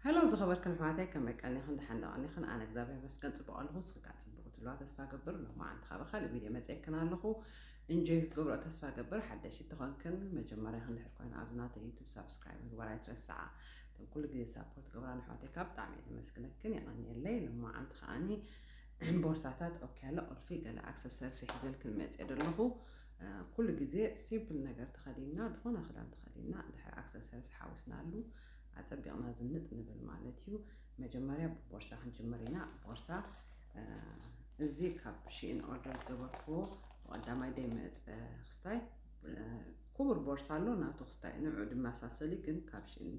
ሀሎ ዝኸበርክን ኣሕዋተይ ከመይ ቀኒኽን ደሓን ዶ ቀኒኽን ኣነ እግዚኣብሔር መስገን ፅቡቅ ኣለኹ ንስኺ ከዓ ፅቡቅ ክትህልዋ ተስፋ ገብር ሎማዓንቲ ከዓ ብካልእ ቪድዮ መፅኤክን ኣለኹ እንጆይ ክትገብሮ ተስፋ ገብር ሓደሽቲ ተኾንክን መጀመርያኽን ድሕር ኮይና ኣብዚ ናተይ ዩቱብ ሳብስክራይብ ምግባር ኣይትረስዓ እቶም ኩሉ ግዜ ሳፖርት ገብራ ኣሕዋተይ ካብ ብጣዕሚ እየ ዘመስግነክን የቀኒየለይ ሎማዓንቲ ከዓኒ ቦርሳታት ኦኪያለ ቁልፊ ገለ ኣክሰሰርስ ይሕዘልክን መፅኤ ደለኹ ኩሉ ግዜ ሲምፕል ነገር ተኸዲንና ዝኾነ ክዳን ተኸዲንና ድሕር ኣክሰሰርስ ሓዊስናሉ ኣጸቢቕና ዝንጥ ንብል ማለት እዩ። መጀመርያ ብቦርሳ ክንጅምር ኢና። ቦርሳ እዚ ካብ ሽኢን ኦርደር ዝገበርክዎ ብቐዳማይ ደይመፀ ክስታይ ክቡር ቦርሳ ኣሎ ናቱ ክስታይ ንዑ ድመሳሰሊ ግን ካብ ሽኢን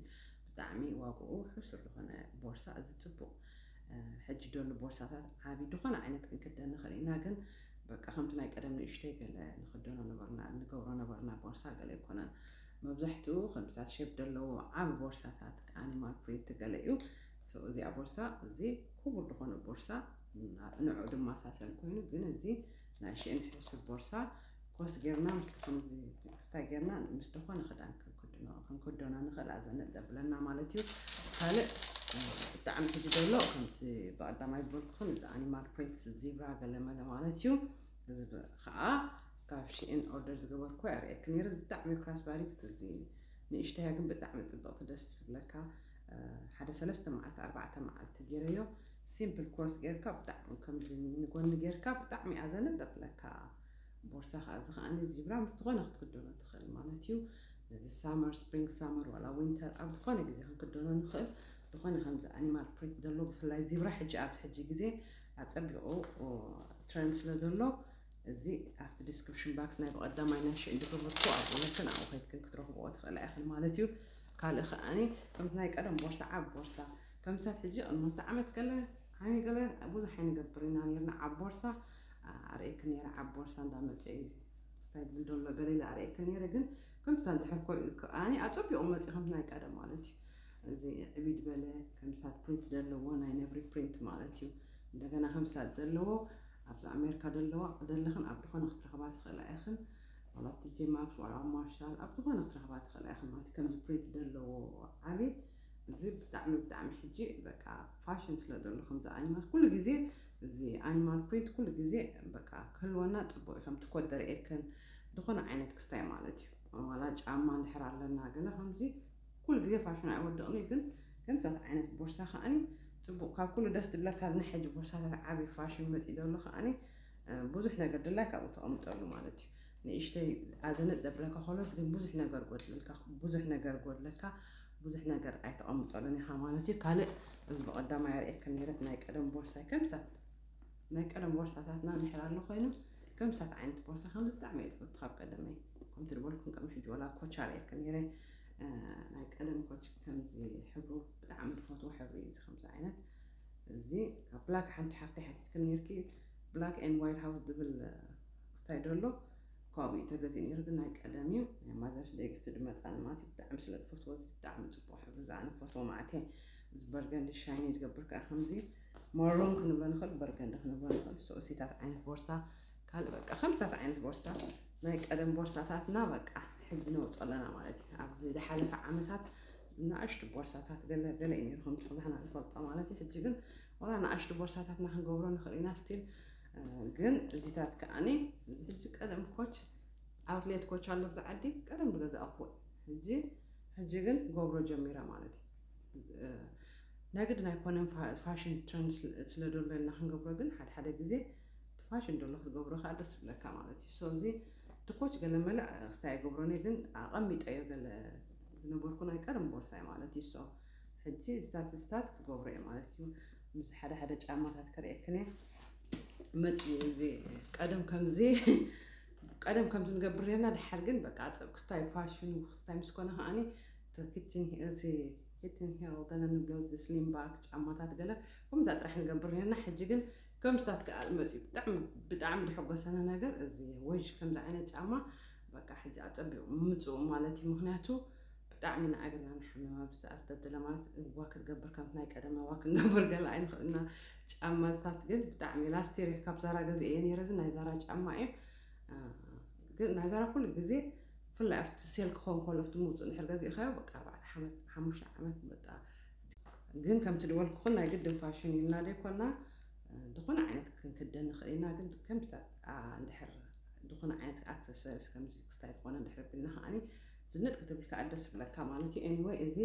ብጣዕሚ ዋግኡ ሕሱር ዝኾነ ቦርሳ እዚ ፅቡቕ ሕጂ ደሉ ቦርሳታት ዓብዪ ድኾነ ዓይነት ክንክደን ንኽእል ኢና ግን በቃ ከምቲ ናይ ቀደም ንእሽተይ ገለ ንኽደኖ ነበርና ንገብሮ ነበርና ቦርሳ ገለ ኣይኮነን መብዛሕትኡ ክንድታት ሸብ ደለዎ ዓቢ ቦርሳታት ኣኒማል ፕሪንት ገለ እዩ so እዚኣ ቦርሳ እዚ ኩቡር ድኾነ ቦርሳ ንዑ ድማ ሳሰን ኮይኑ ግን እዚ ናይ ሽእን ሕሱር ቦርሳ ኮስ ጌርና ምስቲ ከምዚ ክስታይ ጌርና ምስ ድኾነ ክዳን ክንክድኖ ክንክዶና ንኽእል ኣዘነጥ ዘብለና ማለት እዩ ካልእ ብጣዕሚ ሕጂ ደሎ ከምቲ ብቐዳማይ ዝበልኩኹን እዚ ኣኒማል ፕሪንት ዚብራ ገለመለ ማለት እዩ እዚ ኸኣ ካብ ሺኢን ኦርደር ዝገበርክዋ የርእየኪ ኔረ ብጣዕሚ ክራስ ባዲ ትትእዝዝኒ ንእሽተያ ግን ብጣዕሚ ጽብቕቲ ደስ ትብለካ ሓደ ሰለስተ መዓልቲ ኣርባዕተ መዓልቲ ጌረዮ ሲምፕል ኮርስ ጌርካ ብጣዕሚ ከምዚ ንጎኒ ጌርካ ብጣዕሚ እያ ዘንጠጥለካ ቦርሳ ከዓ እዚ ከዓኒ ዚብራ ምስ ዝኾነ ክትክደኖ ትኽእል ማለት እዩ ነዚ ሳመር ስፕሪንግ ሳመር ዋላ ዊንተር ኣብ ዝኾነ ግዜ ክንክደኖ ንኽእል ዝኾነ ከምዚ ኣኒማል ፕሪንት ዘለዎ ብፍላይ ዚብራ ሕጂ ኣብዚ ሕጂ ግዜ ኣጸቢቑ ትረንድ ስለ ዘሎ እዚ ኣብቲ ዲስክሪፕሽን ባክስ ናይ ብቐዳማይ ናይ ሽእ ድግብርኩ ኣብኡ ነክን ኣብኡ ከይትክን ክትረኽብኦ ትኽእላ ኢኽን ማለት እዩ ካልእ ከዓኒ ከምቲ ናይ ቀደም ቦርሳ ዓብ ቦርሳ ከምሳብ ሕጂ ቅድሞቲ ዓመት ገለ ዓሚ ገለ ብዙሕ ኣይንገብር ኢና ነርና ዓብ ቦርሳ ኣርእየክ ነረ ዓብ ቦርሳ እንዳመፀ እዩ ስታይል ብልዶሎ ገለ ኢለ ኣርእየክ ነረ ግን ከምሳ ዝሕር ኮ ከዓኒ ኣፀቢቑ መፂ ከምቲ ናይ ቀደም ማለት እዩ እዚ ዕብድ በለ ከምዚታት ፕሪንት ደለዎ ናይ ነብሪ ፕሪንት ማለት እዩ እንደገና ከምዚታት ደለዎ ኣብዚ ኣሜርካ ደለዋ ደለኽን ኣብ ድኾነ ክትረኽባ ትኽእላ ኢኽን ዋላ ኣብ ቲጄ ማክስ ዋላ ኣብ ማርሻል ኣብ ዝኾነ ክትረኽባ ትኽእላ ኢኽን ማለት ከምዚ ፕሪንት ደለዎ ዓቢ እዚ ብጣዕሚ ብጣዕሚ ሕጂ በቃ ፋሽን ስለ ደሎ ከምዚ ኣኒማል ኩሉ ግዜ እዚ ኣኒማል ፕሪንት ኩሉ ግዜ በቃ ክህልወና ጽቡቅ እዩ ከምቲ ኮት ደርእየክን ዝኾነ ዓይነት ክስታይ ማለት እዩ ዋላ ጫማ እንድሕር ኣለና ገለ ከምዚ ኩሉ ግዜ ፋሽን ኣይወድቕን እዩ ግን ከምዛት ዓይነት ቦርሳ ከኣኒ ጽቡቕ ካብ ኩሉ ደስ ድብለካ እዚ ናይ ሕጂ ቦርሳታት ዓቢ ፋሽን መጺ ዘሎ ከኣኒ ብዙሕ ነገር ድላይ ካብኡ ተቐምጠሉ ማለት እዩ ንእሽተይ ኣዘነጥ ዘብለካ ከሎስ ግን ብዙሕ ነገር ጎድልልካ ብዙሕ ነገር ጎድለካ ብዙሕ ነገር ኣይተቐምጠሉን ኢኻ ማለት እዩ ካልእ እዚ ብቐዳማይ ኣርእየካ ነረት ናይ ቀደም ቦርሳ ከምታት ናይ ቀደም ቦርሳታትና ንሕር ኣሎ ኮይኑ ከምሳት ዓይነት ቦርሳ ከም ብጣዕሚ እየ ትፈቱ ካብ ቀደመይ ከምቲ ዝበልኩም ቅድሚ ሕጂ ወላ ኮቻር እየካ ነረ ናይ ቀደም ኮች ከምዚ ሕብሩ ብጣዕሚ ዝፈትዎ ሕብሪ እዚ ከምዚ ዓይነት እዚ ካብ ብላክ ሓንቲ ሓፍቲ ሓቲትክን ነርኪ ብላክ ኤን ዋይት ሃውስ ዝብል ክስታይ ደሎ ካብኡ እዩ ተገዚኡ ነይሩ ግን ናይ ቀደም እዩ ናይ ማዘርስ ደይ ግፍቲ ድመፃኒ ማለት እዩ ብጣዕሚ ስለ ዝፈትዎ እዚ ብጣዕሚ ፅቡቅ ሕብሪ ዝኣነ ፈትዎ ማለት እየ እዚ በርገንዲ ሻይኒ ዝገብር ከዓ ከምዚ መሮን ክንብሎ ንኽእል በርገንዲ ክንብሎ ንኽእል ሶእሲታት ዓይነት ቦርሳ ካልእ በቃ ከምታት ዓይነት ቦርሳ ናይ ቀደም ቦርሳታትና በቃ ሕጂ ነውፅኦ ኣለና ማለት እዩ ኣብዚ ዝሓለፈ ዓመታት ንኣሽቱ ቦርሳታት ገለ ገለ እዩ ነይሩ ከምቲ ኩላህና ንፈልጦ ማለት እዩ ሕጂ ግን ዋላ ንኣሽቱ ቦርሳታትና ክንገብሮ ንኽእል ኢና ስቲል ግን እዚታት ከዓኒ ሕጂ ቀደም ኮች ኣውትሌት ኮች ኣሎ ብዚ ዓዲ ቀደም ዝገዛእኩዎ ሕጂ ሕጂ ግን ገብሮ ጀሚረ ማለት እዩ ናይ ግድን ኣይኮነን ፋሽን ትረንድ ስለ ዘሎ ኢና ክንገብሮ ግን ሓደ ሓደ ግዜ እቲ ፋሽን ደሎ ክትገብሮ ከኣ ደስ ይብለካ ማለት እዩ so እዚ እቲ ኮች ገለመለ ክስታይ ኣይገብሮን እየ ግን ኣቐሚጠዮ ገለ ዝነበርኩ ናይ ቀደም ቦርሳይ ማለት እዩ so ሕጂ ዝታት ዝታት ክገብሮ እየ ማለት እዩ ምስ ሓደ ሓደ ጫማታት ክርእየክን እየ መፅኡ እዚ ቀደም ከምዚ ቀደም ከምዚ ንገብር ነርና ድሓር ግን በቃ ኣፀብ ክስታይ ፋሽኑ ክስታይ ምስ ኮነ ከዓኒ ኪትን እዚ ኪትን ሄል ገለ ንብሎ እዚ ስሊም ባክ ጫማታት ገለ ከምዛ ጥራሕ ንገብር ነርና ሕጂ ግን ከምዚታት ከኣ መጽዩ ብጣዕሚ ብጣዕሚ ድሐጎሰኒ ነገር እዚ እዩ ወዥ ከምዚ ዓይነት ጫማ በቃ ሕጂ ኣጸቢቑ ምምጽኡ ማለት እዩ ምክንያቱ ብጣዕሚ ንኣእግርና ንሓምም ኣብዚ ሰዓት ተድለ ማለት እዋ ክትገብር ከምቲ ናይ ቀደም እዋ ክንገብር ገለ ኣይንኽእልና ጫማ ዝታት ግን ብጣዕሚ ላስቴር ካብ ዛራ ገዜ እየ ነይረ እዚ ናይ ዛራ ጫማ እዩ ግን ናይ ዛራ ኩሉ ግዜ ብፍላይ ኣብቲ ሴል ክኸውን ከሎ ኣብቲ ምውፅእ ድሕር ገዚእኻዮ በቃ ኣርባዕተ ሓሙሽተ ዓመት በቃ ግን ከምቲ ድበልኩኽን ናይ ግድን ፋሽን ኢልና ደይኮና ድኹነ ዓይነት ክንክደን ንኽእል ኢና ግን ከምታት እንድሕር ድኹነ ዓይነት ኣክሰሰሪስ ከምዚ ክስታይ ዝኾነ እንድሕር ቢልና ከዓኒ ዝንጥ ክትብል ከዓ ደስ ብለካ ማለት እዩ ኤኒወይ እዚ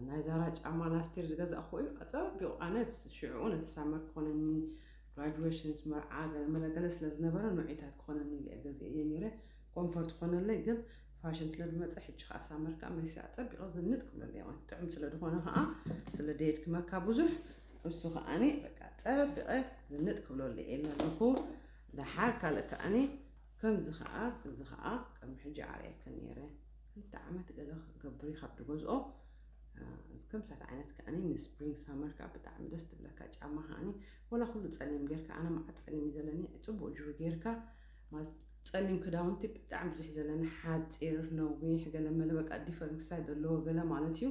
ናይ ዛራ ጫማ ላስቲር ዝገዛእኹ እዩ ኣፀቢቑ ኣነ ሽዕኡ ነቲ ሳመር ክኾነኒ ግራጁዌሽንስ መርዓ ገለመለገለ ስለ ዝነበረ ንዑይታት ክኾነኒ ገዜ እየ ነይረ ኮንፈርት ክኾነለይ ግን ፋሽን ስለ ዝመፀ ሕጂ ከዓ ሳመር ከዓ መሊሰ ኣፀቢቐ ዝንጥ ክብሎ ኣለየ ማለት ጥዑም ስለ ዝኾነ ከዓ ስለ ደየድክመካ ብዙሕ እሱ ከዓኒ በቃ ፀቢቐ ዝንጥ ክብሎ ኣለየ ኢልና ኣለኹ ደሓር ካልእ ከዓኒ ከምዚ ከዓ እዚ ከዓ ከም ሕጂ ዓርየክን ነይረ ክልተ ዓመት ገለ ገብሪ ካብ ድገዝኦ ከምሳት ዓይነት ከዓኒ ንስፕሪንግ ሳመር ከዓ ብጣዕሚ ደስ ትብለካ ጫማ ከዓኒ ወላ ኩሉ ፀሊም ጌርካ ኣነ መዓት ፀሊም እዩ ዘለኒ ፅቡቅ ጅሩ ጌርካ ማለት ጸሊም ክዳውንቲ ብጣዕሚ ብዙሕ ዘለኒ ሓጺር ነዊሕ ገለ መለ በቃ ዲፈረንት ሳይዝ ዘለዎ ገለ ማለት እዩ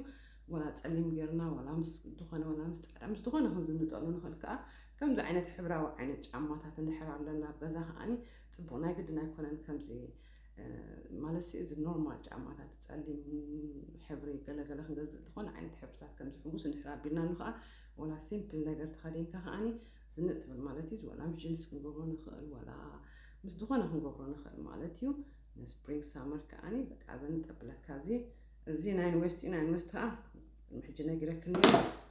ወላ ጸሊም ጌርና ወላ ምስ ዝኾነ ወላ ምስ ጻዕዳ ምስ ዝኾነ ክንዝንጠሉ ንኽእል ከኣ ከምዚ ዓይነት ሕብራዊ ዓይነት ጫማታት እንድሕር ኣለና ኣብ ገዛ ከኣኒ ጽቡቕ ናይ ግድን ኣይኮነን ከምዚ ማለት ሲ እዚ ኖርማል ጫማታት ጸሊም ሕብሪ ገለ ገለ ክንገዝእ ዝኾነ ዓይነት ሕብርታት ከምዚ ሕጉስ እንድሕር ኣቢልናሉ ከኣ ወላ ሲምፕል ነገር ተኸዲንካ ከኣኒ ስንጥ ትብል ማለት እዩ ዋላ ምስ ጅንስ ክንገብሮ ንኽእል ዋላ ምስ ዝኾነ ክንገብሮ ንኽእል ማለት እዩ ንስፕሪንግ ሳመር ከዓኒ በቃ ዘንጠብለካ እዚ እዚ ናይ ዩኒቨርሲቲ ናይ ዩኒቨርሲቲ ከዓ ቅድሚ ሕጂ ነጊረክን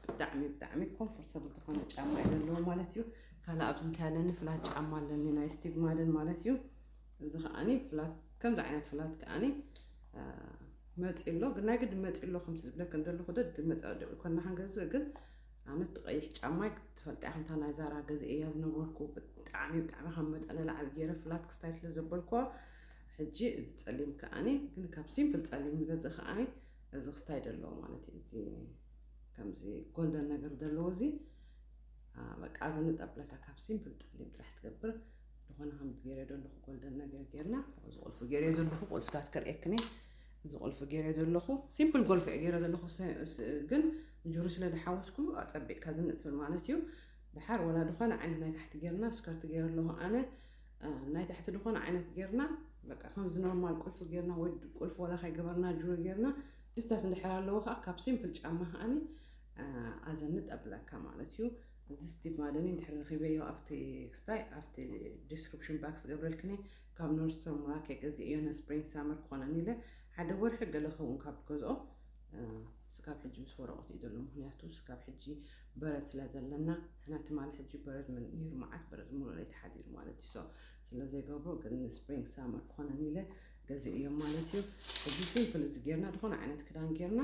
ብጣዕሚ ብጣዕሚ ኮምፎርተብል ዝኾነ ጫማ እዩ ዘለዎ ማለት እዩ ካልእ ኣብዚ እንታይ ኣለኒ ፍላት ጫማ ኣለኒ ናይ ስቲግማደን ማለት እዩ እዚ ከዓኒ ፍላት ከምዚ ዓይነት ፍላት ከዓኒ መፂ ኣሎ ግን ናይ ግዲ መፂ ኣሎ ከም ዝብለክን ዘለኹ ደድ መፃ ደብል ኮና ክንገዝእ ግን ኣነ እቲ ቀይሕ ጫማይ ትፈልጥያ እያ ከምታ ናይ ዛራ ገዚኤያ ዝነበርኩ ብጣዕሚ ብጣዕሚ ካብ መጠን ንላዕሊ ገይረ ፍላት ክስታይ ስለ ዘበልኩ ሕጂ እዚ ጸሊም ከዓኒ ግን ካብ ሲምፕል ጸሊም ንገዝእ ከዓኒ እዚ ክስታይ ደለዎ ማለት እዩ እዚ ከምዚ ጎልደን ነገር ደለዎ እዚ በቃ እዚ ንጠብለታ ካብ ሲምፕል ጸሊም ጥራሕ ትገብር ዝኾነ ከም ገይረ ዘለኹ ጎልደን ነገር ገይርና እዚ ቁልፊ ገይረ ዘለኹ ቁልፍታት ከርእየክኒ እዚ ቁልፊ ገይረ ዘለኹ ሲምፕል ጎልፊ ገይረ ዘለኹ ግን ጁሩ ስለ ድሓወስኩ ኣጸቢቅካ ዝንጥፍን ማለት እዩ ድሓር ወላ ድኮነ ዓይነት ናይ ታሕቲ ጌርና ስከርት ጌረ ኣለኩ ኣነ ናይ ታሕቲ ድኮነ ዓይነት ጌርና በቃ ከምዚ ኖርማል ቁልፊ ጌርና ወይ ቁልፊ ወላ ከይገበርና ጁሩ ጌርና ጅስታት እንድሕር ኣለዎ ከዓ ካብ ሲምፕል ጫማ ከዓኒ ኣዘንጥ ኣብለካ ማለት እዩ እዚ ስቲቭ ማደኒ እንድሕር ረኪበዮ ኣብቲ ክስታይ ኣብቲ ዲስክሪፕሽን ባክስ ገብረልክኒ ካብ ኖርስቶር ሙራኬ ገዚእዮ ንስፕሪንግ ሳመር ክኮነኒ ኢለ ሓደ ወርሒ ገለ ከውን ካብ ገዝኦ ስጋብ ሕጂ ምስ ወረቆት እዩ ዘሎ ምክንያቱ ስጋብ ሕጂ በረድ ስለ ዘለና ንሕና ትማሊ ሕጂ በረድ ነይሩ መዓት በረድ ሙሉእ ለይቲ ሓዲሩ ማለት እዩ so ስለ ዘይገብሮ ግን ን spring summer ክኮነኒ ኢለ ገዚኤዮም ማለት እዩ እዚ simple እዚ ጌርና ድኮነ ዓይነት ክዳን ጌርና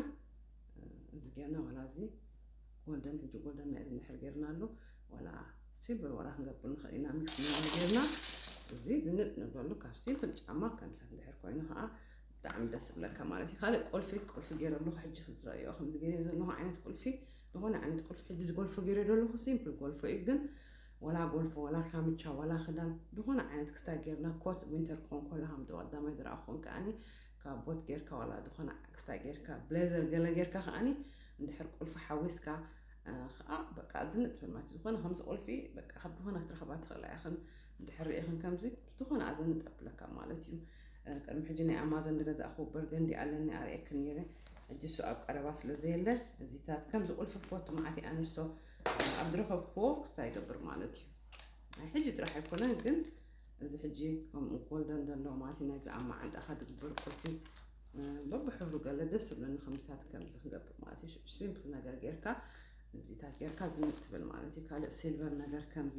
እዚ ጌርና ዋላ እዚ ጎልደን ሕጂ ጎልደን ናይ እዚ ንድሕር ጌርናሉ ዋላ ሲልቨር ዋላ ክንገብር ንክእል ኢና ሚክስ ጌርና እዚ ዝንጥ ንብለሉ ካብ ሲምፕል ጫማ ከምሰ እንድሕር ኮይኑ ከዓ ብጣዕሚ ደስ ዝብለካ ማለት እዩ ካልእ ቁልፊ ቁልፊ ገይረ ኣለኹ ሕጂ ክዝረእዮ ከምዚ ገይረ ዘለኹ ዓይነት ቁልፊ ዝኾነ ዓይነት ቁልፊ ሕጂ ዝጎልፎ ገይረ ዘለኹ ሲምፕል ጎልፎ እዩ ግን ወላ ጎልፎ ወላ ካምቻ ወላ ክዳን ዝኾነ ዓይነት ክስታ ጌርና ኮት ዊንተር ክኾን ከሎ ሃምዶ ቀዳማይ ዝረኣኹን ከዓኒ ካብ ቦት ጌርካ ወላ ዝኾነ ክስታ ጌርካ ብሌዘር ገለ ጌርካ ከዓኒ እንድሕር ቁልፊ ሓዊስካ ከዓ በቃ ዝንጥ ማለት ዝኾነ ከምዚ ቁልፊ በቃ ካብ ዝኾነ ክትረኽባ ትኽእላ ኢኽን እንድሕር ርኢኽን ከምዚ ዝኾነ ኣዘን ጠብለካ ማለት እዩ ቅድሚ ሕጂ ናይ ኣማዞን ዝገዛእኹ በርገንዲ ኣለኒ ኣርእየክ ነይረ ሕጂ እሱ ኣብ ቀረባ ስለ ዘየለ እዚታት ከምዚ ቁልፊ ክፈቱ መዓት ኣንስቶ ኣብ ዝረኸብክዎ ክስታ ይገብር ማለት እዩ ናይ ሕጂ ጥራሕ ኣይኮነን ግን እዚ ሕጂ ከምኡ ጎልደን ዘለዎ ማለት እዩ ናይዚ ኣብ መዓንጣኻ ዝግበር ቁልፊ በብሕብሩ ገለ ደስ ዝብለኒ ከምዚታት ከምዚ ክንገብር ማለት እዩ ሲምፕል ነገር ጌርካ እዚታት ጌርካ ዝንጥ ትብል ማለት እዩ ካልእ ሲልቨር ነገር ከምዚ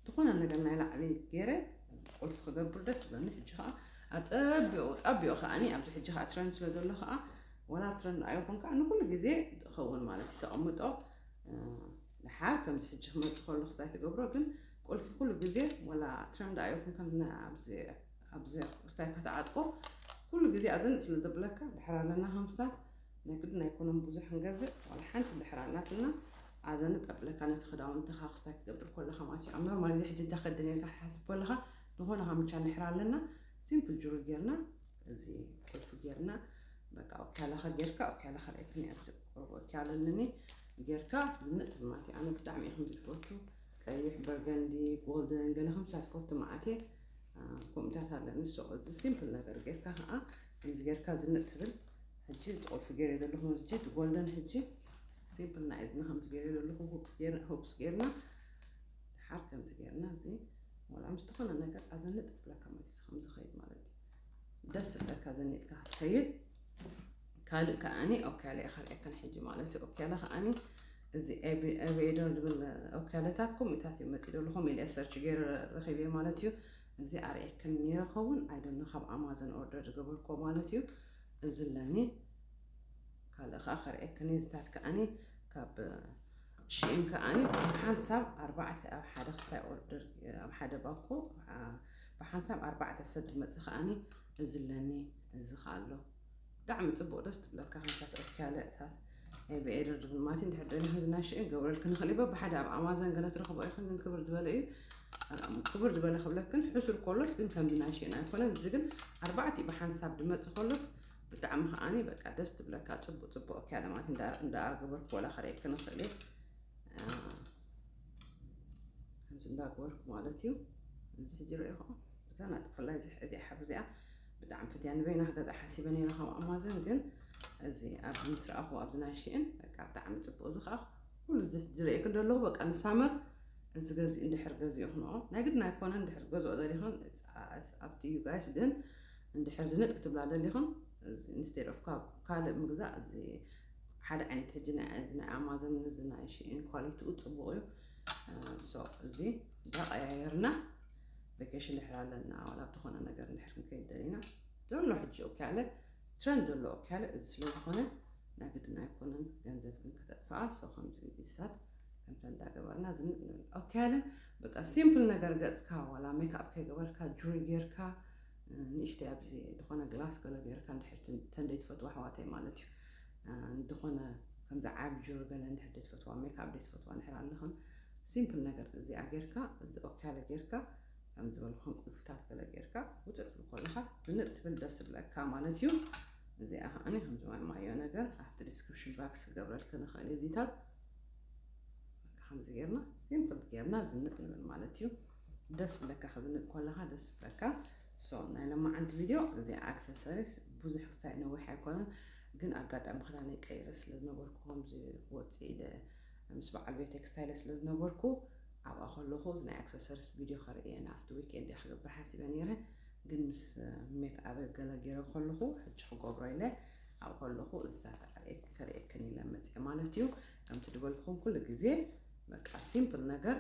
ዝኾነ ነገር ናይ ላዕሊ ገይረ ቁልፊ ክገብር ደስ ዝብለኒ ሕጂ ከዓ ኣፀቢቑ ጣቢቑ ከዓኒ ኣብዚ ሕጂ ከዓ ትረን ስለ ዘሎ ከዓ ወላ ትረን ንኣዮ ኮን ከዓ ንኩሉ ግዜ ዝኸውን ማለት እዩ ተቐምጦ ድሓር ከምዚ ሕጂ ክመፅእ ከሎ ክስታይ ትገብሮ ግን ቁልፊ ኩሉ ግዜ ወላ ትረን ድኣዮ ኮን ከም ኣብዚ ኣብዚ ክስታይ ከተዓጥቆ ኩሉ ግዜ ኣዘንጥ ስለ ዘብለካ ድሓር ኣለና ከምስታት ናይ ግድን ኣይኮነን ብዙሕ ንገዝእ ዋላ ሓንቲ እንድሕር ኣላትና ኣዛ ንጣብ ብለካ ነቲ ክዳውንትኻ ክስታይ ክገብር ኮለኻ ማለት እዩ ኣብ ኖርማል እዚ ሕጂ እንታይ ከደን ኢልካ ክትሓስብ ኮለኻ ዝኾነ ካምቻ ንድሕር ኣለና ሲምፕል ጅሩ ጌርና እዚ ቁልፊ ጌርና በቃ ኦኪያላኻ ጌርካ ኦኪያላኻ ርኣይ ክንያት ቆርቦ ኦኪያለንኒ ጌርካ ዝንጥ ማለት እዩ ኣነ ብጣዕሚ እየ ከምዚ ዝፈቱ ቀይሕ በርገንዲ ጎልደን ገለ ከምሳ ዝፈቱ መዓት እየ ከምኡታት ኣለኒ ሶ እዚ ሲምፕል ነገር ጌርካ ከዓ ከምዚ ጌርካ ዝንጥ ትብል ሕጂ እቲ ቁልፊ ገይረ ዘለኹ ምስጂ እቲ ጎልደን ሕጂ ሲምፕል ናይ እዝኒ ከምዚ ገይረ ዘለኹ ሆፕስ ገይርና ድሓር ከምዚ ገይርና እዚ ወላ ምስ ዝኾነ ነገር ኣዘንጥ ብለካ ማለት እዩ ከምዚ ኸይድ ማለት እዩ ደስ ብለካ ዘኒጥካ ክትከይድ ካልእ ከዓኒ ኦካለ እየ ካልኣይከን ሕጂ ማለት እዩ ኦካለ ከዓኒ እዚ ኤቬደር ዝብል ኦካለታት ኮሚታት እዩ መፂእ ዘለኹም ኢለ ሰርች ገይረ ረኺበ ማለት እዩ እዚ ኣርኤክን ኔረ ከውን ኣይ ዶንኖ ካብ ኣማዘን ኦርደር ዝገበርክዎ ማለት እዩ እዚ ኣለኒ ካልእ ከኣ ከርኤክን እየ እዚታት ከኣኒ ካብ ሽኢን ከኣኒ ብሓንሳብ ኣርባዕተ ኣብ ሓደ ክስታይ ኦርደር ኣብ ሓደ ባኮ ብሓንሳብ ኣርባዕተ ሰብ ዝመጽእ ከኣኒ እዚ ኣለኒ እዚ ከኣ ኣሎ ብጣዕሚ ፅቡቅ ደስ ትብለካ ከምታ ትረኪ ያለ እታት ናይ ብኤደር ድብል ማለት እንድሕር ደሊ ህዝናሽ እን ገብረልክ ንኽእል ይበ ብሓደ ኣብ ኣማዘን ገለ ትረኽቦ ኢኽን ግን ክብር ዝበለ እዩ ክብር ዝበለ ክብለክን ሕሱር ኮሎስ ግን ከምዚ ናይ ሽእን ኣይኮነን እዚ ግን ኣርባዕቲ ብሓንሳብ ድመፅ ኮሎስ ብጣዕሚ ከዓኒ በቃ ደስ ትብለካ ፅቡቅ ፅቡቅ እኪ ያለ ማለት እንዳገበርክ ወላ ክርእየክ ንኽእል እዩ ከምዚ እንዳገበርክ ማለት እዩ እዚ ሕጂ ርእኹ ብዛና ጥፍላይ እዚኣ ሓብ እዚኣ ብጣዕሚ ፈትያ ንበይና ክገዝኣ ሓሲበ ነይረ ካብ ኣማዞን ግን እዚ ኣብዚ ምስ ረኣኹ ኣብዚ ናይ ሽእን በቃ ብጣዕሚ ፅቡቅ እዚ ከዓ ኩሉ ዝርእየክን ዘለኹ በቃ ንሳመር እዚ ገዚ እንድሕር ገዚእኽንኦ ናይ ግድን ኣይኮነን እንድሕር ገዝኦ ደሊኽን ኣብቲ እዩ ጋይስ ግን እንድሕር ዝንጥ ክትብላ ደሊኽን ኢንስቴድ ኦፍ ካብ ካልእ ምግዛእ እዚ ሓደ ዓይነት ሕጂ ናይ ኣማዞን እዚ ናይ ሽእን ኳሊቲኡ ፅቡቅ እዩ ሶ እዚ እንዳቀያየርና ቨኬሽን ድሕር ኣለና ዋላ ብዝኾነ ነገር ድሕር ክንከይድ ደሊና ዘሎ ሕጂ ኦኬ ኣለ ትረንድ ዘሎ ኦኬ ኣለ እዚ ስለ ዝኾነ ናይ ግድን ኣይኮነን ገንዘብ ግን ከተጥፍኣ ሰው ከምዚ ግዝታት ከምታ እንዳገበርና ዝንጥ ንብል ኦኬ ኣለ በቃ ሲምፕል ነገር ገጽካ ዋላ ሜክኣፕ ከይገበርካ ጁሪ ጌርካ ንእሽተይ ኣብዚ ዝኾነ ግላስ ገለ ጌርካ እንድሕር ተንደይ ትፈትዋ ኣሕዋተይ ማለት እዩ እንድኾነ ከምዚ ዓብ ጁሪ ገለ እንድሕር ደይ ትፈትዋ ሜክኣፕ ደይ ትፈትዋ እንድሕር ኣለኽን ሲምፕል ነገር እዚኣ ጌርካ እዚ ኦኬ ኣለ ጌርካ ከም ዝበልኹም ቁልፍታት ገለ ጌርካ ውፅእ ትብል ኮለኻ ዝንጥ ትብል ደስ ዝብለካ ማለት እዩ እዚኣ ከዓኒ ከም ዝበልናዮ ነገር ኣብቲ ዲስክሪፕሽን ባክስ ክገብረልክን ንኽእል እዚታት ከምዚ ጌርና ሲምፕል ጌርና ዝንጥ ንብል ማለት እዩ ደስ ብለካ ክዝንጥ ኮለካ ደስ ብለካ ሶ ናይ ለማዓንቲ ቪድዮ እዚ ኣክሰሰሪስ ብዙሕ ክስታይ ነዊሕ ኣይኮነን ግን ኣጋጣሚ ክዳነይ ቀይረ ስለ ዝነበርኩ ከምዚ ክወፅእ ኢለ ምስ በዓል ቤተይ ክስታይለ ስለ ዝነበርኩ ኣብኣ ከለኹ እዚ ናይ ኣክሰሰሪስ ቪድዮ ከርኢ እየ ናብቲ ዊክኤንድ እየ ክገብር ሓሲበ ነይረ ግን ምስ ሜክኣበ ገለ ገይረ ከለኹ ሕጂ ክገብሮ ኢለ ኣብኡ ከለኹ እዚ ከርእየክን ኢለ መፅአ ማለት እዩ ከምቲ ዝበልኩም ኩሉ ግዜ በቃ ሲምፕል ነገር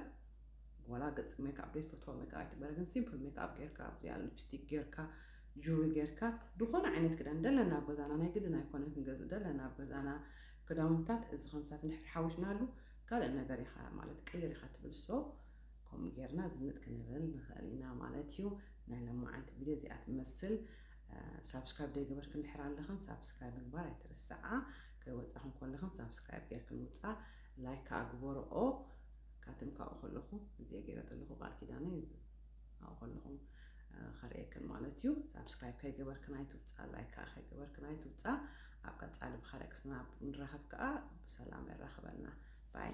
ወላ ገጽ ሜክኣፕ ቤት ፈትዋ ሜክኣፕ ኣይትበረ ግን ሲምፕል ሜክኣፕ ጌርካ ኣብዚኣ ሊፕስቲክ ጌርካ ጁሪ ጌርካ ዝኾነ ዓይነት ክዳን ደለና ኣብ ገዛና ናይ ግድን ኣይኮነ ክንገዝእ ደለና ኣብ ገዛና ክዳውንትታት እዚ ከምታት እንድሕር ሓዊስናሉ ካልእ ነገር ኢኻ ማለት ቀይር ኢኻ ትብል so ከምኡ ጌርና ዝንጥ ክንብል ንኽእል ኢና ማለት እዩ ናይ ሎማዓንቲ ቪድዮ እዚኣ ትመስል ሳብስክራይብ ዘይገበርክን ድሕር ኣለኽን ሳብስክራይብ ምግባር ኣይትርስዓ ከይወፃኽን ኮለኽን ሳብስክራይብ ጌርክን ውፃ ላይክ ከዓ ግበርኦ ካትም ካብኡ ከለኹ እዚኣ ገይረ ዘለኹ ቃል ኪዳነይ ኣብኡ ከለኹም ከርእየክን ማለት እዩ ሳብስክራይብ ከይገበርክን ኣይትውፃእ ላይክ ከዓ ከይገበርክን ኣይትውፃእ ኣብ ቀፃሊ ብካልእ ክስናብ ንራኸብ ከዓ ብሰላም የራኽበና ባይ